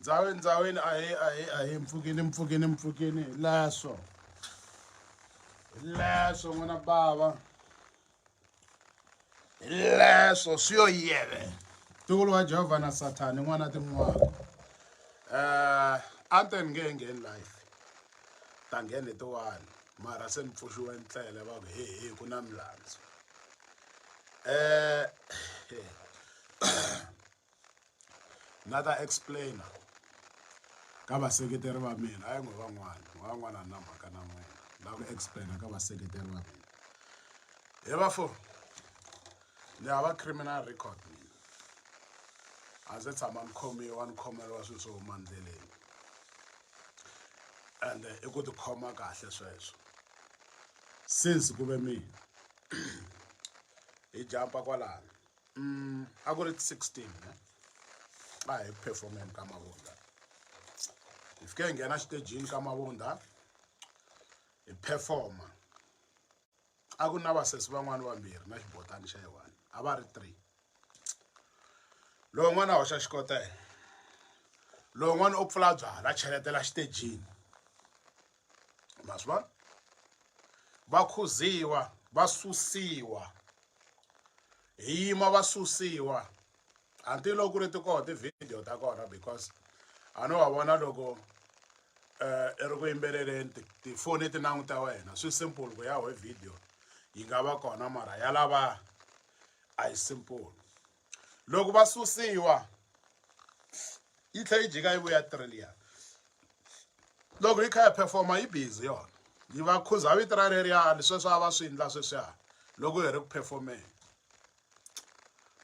Ndzaweni ndzaweni ahe ahe ahe mpfukini mpfukini mpfukini hi leswo hi leswo n'wana bava hi leswo swi yo yele ntukulu wa jehovha na sathani n'wana tin'wana um eh, a ni te ni nge he ngheni life ta ngheni tiwani mara se ni pfuxiwe ndlela va ku he he ku na milandzu um ni nga ta explain-a ka vaseketeri va mina a yi n'wi van'wana van'wana na mhaka na n'wina na ku explain-a ka vaseketeri va mina he vafo ni hava criminal record mina a ndzi tshama ni khomiwa ni khomeriwa swilo swo huma ndleleni ende i ku tikhoma kahle sweswo since ku ve mina hi jampa kwalano mm, a ku ri 16 ne a hi ku performeni ka mavunda hi fike hi nghena xitejini ka mavunda hi performa a ku na vasesi van'wana vambirhi na xibotani xa yiwani a va ri three lowu n'wana hoxa xikotela lowu n'wana u pfula byala cheletela xitejini ma swi vona va khuziwa va susiwa hi yima va susiwa until loko ku ri ti koho ti-video ta kona because a no va vona loko um i ri ku yimbeleleni tifoni ti languta wena swi simple ku ya ho video yi nga va kona mara ya lava a yi simple loko va susiwa yi tlhela yi jika yi vuya trillion loko yi kha yi performa yi busy yona yi va khuza vito ra reriyani sweswi a va swi endla sweswiya loko hi ri ku performeni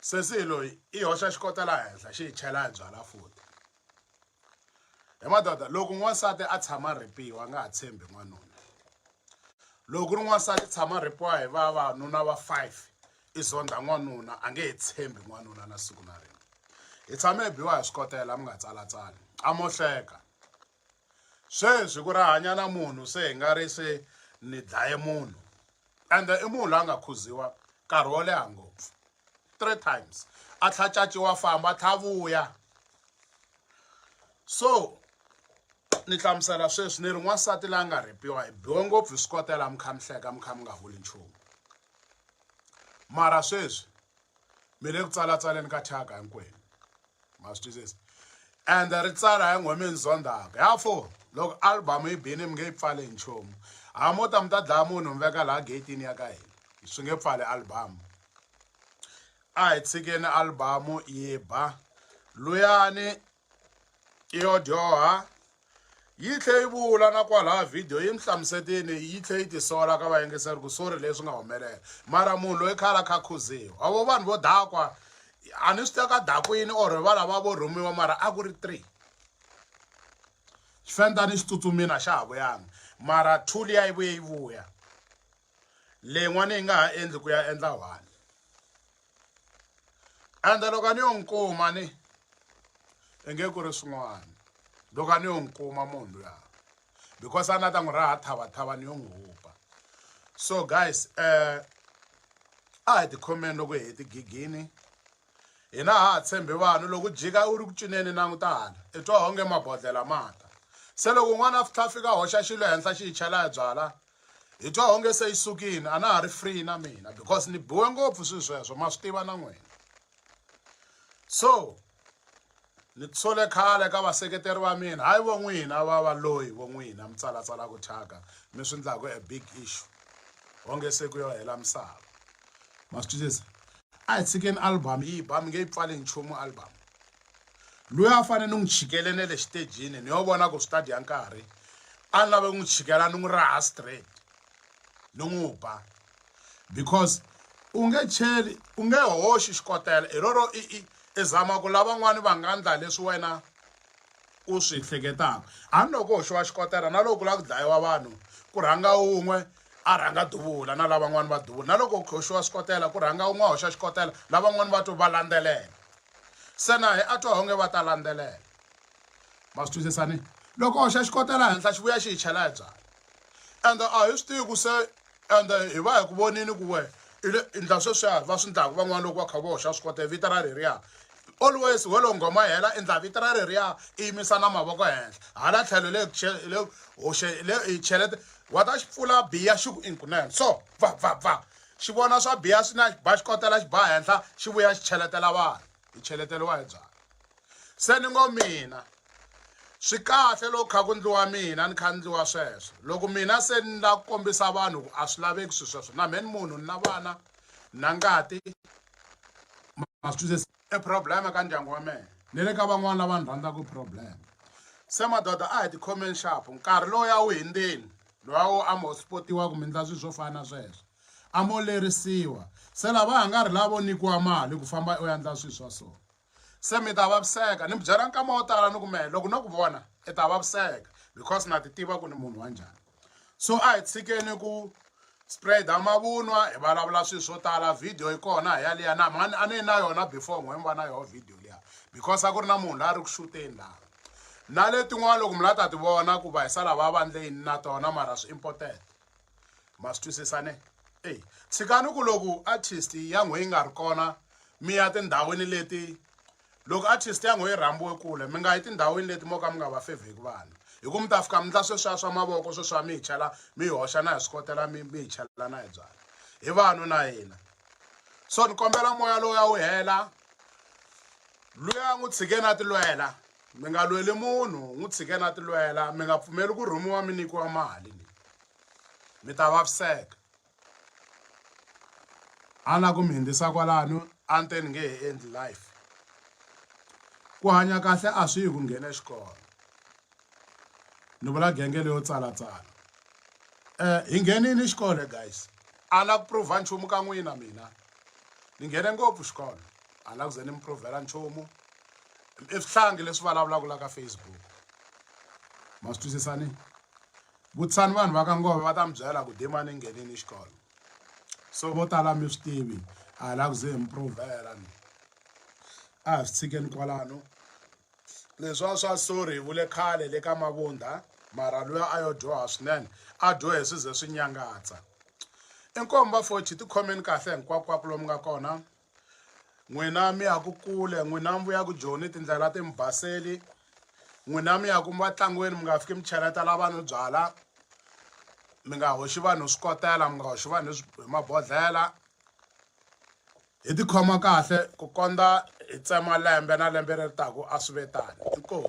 sesi loyi i hoxa xikota laha henhla xi hi chela hi byala futhi hi madoda loko n'wansati a tshama a rhipiwa a nga ha tshembi n'wanuna loko ku ri n'wansati tshama rhipiwa hi vavanuna va five i zondha n'wanuna a nge he tshembi n'wanuna na siku na rin'we hi tshame hi biwa hi swikotela mi nga tsalatsali a mo hleka sweswi ku ri hanya na munhu se hi nga ri se ni dlaye munhu ende i munhu la nga khuziwa nkarhi wo leha ngopfu three times a tlha caciwa famba tlha vuya so ni hlamusela sweswi ni ri n'wansati la nga rhepiwa hi biwe ngopfu hi swi kotela mi kha mi hleka mi kha mi nga vuli nchumu mara sweswi mi le ku tsalatsaleni ka thyaka hinkwenu ma swi twisisa and ri tsala hi nghomeni zondzaka ya fo loko album yi bini mi nge yi pfale hi nchumu ha mo ta mi ta dlaya munhu mi veka laha gatini ya ka hina swi nge pfali album a hi tshikeni album yi ba luyani yo dyoha yi tlhe yi vula na kwalaha vhidiyo yi ni hlamusetini yi tlhe yi tisola ka vayingiseri ku sori leswi nga humelela mara munhu loyi khale a kha khuziwa a vo vanhu vo dakwa a ni swi teka dakwini or va lava vo rhumiwa mara a ku ri three xifenta ni xi tsutsumina xa ha vuyanga mara two liya yi vuye yi vuya leyin'wana yi nga ha endli ku ya endla one ende loko a ni yo n'wi kuma ni i nge ku ri swin'wana loko a ni yo n'wi kuma munhu luya because a na ta n'wi raha thavathava ni yo n'wi hupa so guys um a hi tikhomeni loko hi heti gigini hina ha ha tshembi vanhu loko jika u ri ku cineni languta hala i twa onge mabodlela mata se loko n'wana a fitlha a fika hoxa xilo henhla xi hi chela hi byala hi twa onge se yi sukini a na ha ri free na mina because ni biwe ngopfu swilo sweswo ma swi tiva na n'wina so ni tsole khale ka vaseketeri va mina hayi vo n'wina va va loyi vo n'wina mi tsalatsalaka thyaka mi swi endlaku a big issue onge se ku yo hela misava ma swi twisisa a hi tshikeni album yi ba mi nge yi pfali nchumu album luya a fane ni n'wi chikele ne le xitejini ni yo vona ku swi ta dya nkarhi a ni lave ku n'wi chikela ni n'wi raha straight ni n'wi ba because u nge cheli u nge hoxi xikotela hi roro i i i zama ku lavan'wani va nga ndla leswi wena u swi hleketaka a ni loko hoxiwa xikotela na loko ku lava ku dlayiwa vanhu ku rhanga un'we a rhanga duvula na lavan'wani va duvula na loko hoxiwa xikotela ku rhanga un'we a hoxa xikotela lavan'wani va to va landzelela Se na hi a twa honge va ta landzelela. Ma swi twisisa ni? Loko hoxa xikotela henhla xi vuya xi hi chela hi byala. Ende a hi swi tivi ku se ende hi va hi ku vonini ku we i le i ndla sweswiya va swi ndlaku van'wana loko va kha va hoxa swikotela vito ra reriya always ho lo nghoma yi hela i ndla vito ra reriya i yimisa na mavoko henhla hala tlhelo le le hoxe le hi chelete wa ta xi pfula biya xi ku inkunene so va va va Xi vona swa biha swi na xi ba xi kotela xi ba henhla xi vuya xi cheletela vanhu hi cheleteriwa hi byalwa se ni ngo mina swi kahle loko kha ku ndliwa mina ni kha ndliwa sweswo loko mina se ni la kombisa vanhu ku a swi laveki swi sweswo na mheni munhu ni na vana na ngati ma swi twisisa i problem ka ndyangu wa mehe ni le ka van'wana lava ni rhandzaka problem se madoda a hi tikhomeni xapo nkarhi lowu ya wu hindzeni lowa wo a mo spotiwa kumbe ndla swilo swo fana na sweswo a mo lerisiwa se lava ha nga ri lavo nyikiwa mali ku famba u ya ndla swilo swa so se mi ta vaviseka ni mi byela nkama wo tala ni ku mehe loko no ku vona i ta vaviseka because na ti tiva ku ni munhu wa njhani so a hi tshikeni ku spreada mavunwa hi vulavula swilo swo tala video yi kona hi yaliya na mani a ni na yona before n'we mi va na yona video liya because a ku ri na munhu la a ri ku xuteni laha na letin'wana loko mi la ta ti vona ku va hi sala va vandleni na tona mara swi important ma swi twisisane ey tshikani ku loko artist ya n'we yi nga ri kona mi ya tindhawini leti Loko artist ya ngho yi rhambiwe kule, mi nga yi tindhawini leti mo ka mi nga va fevheki vanhu. Hi ku mi ta fika mi ndla sweswiya swa mavoko sweswiya mi hi chela mi yi hoxa na hi swikotela mi mi hi chela na hi byala. Hi vanhu na hina. So ni kombela moya lowuya wu hela. Luya n'wi tshikeni a tilwela. Mi nga lweli munhu, n'wi tshikeni a tilwela. Mi nga pfumeli ku rhumiwa mi nyikiwa mali. Mi ta vaviseka. A la ku mi hundzisa kwalano a ni te ni nge he endli life ku hanya kahle a swi yi ku nghena xikolo ni vula genge leyo tsalatsala um hi nghenini xikolo guys a la ku prove nchumu ka n'wina mina ni nghene ngopfu xikolo a la ku ze ni mi provhela nchumu i swihlangi leswi vulavulaka la ka facebook ma swi twisisani Vutisani vanhu va ka Ngova va ta mi byela ku demani nghenini xikolo so vo tala mi swi tivi a hi la ku ze hi mi provhela ni a hi swi tshikeni kwalano leswiwa swa sorry hi vule khale le ka mavundha mara luya a yo dyoha swinene a dyohe swi ze swi nyangatsa inkomu va fochi tikhomeni kahle hinkwakwaku lomu nga kona n'wina mi ya ku kule n'wina mi vuya ku joni tindlela ti mi baseli n'wina mi ya ku mi vatlangweni mi nga fiki mi cheletela vanhu byala mi nga hoxi vanhu swi kotela mi nga hoxi vanhu hi mabodhlela hi tikhoma kahle ku kondza hi tsema lembe na lembe leri taka a swi ve tani inkomu.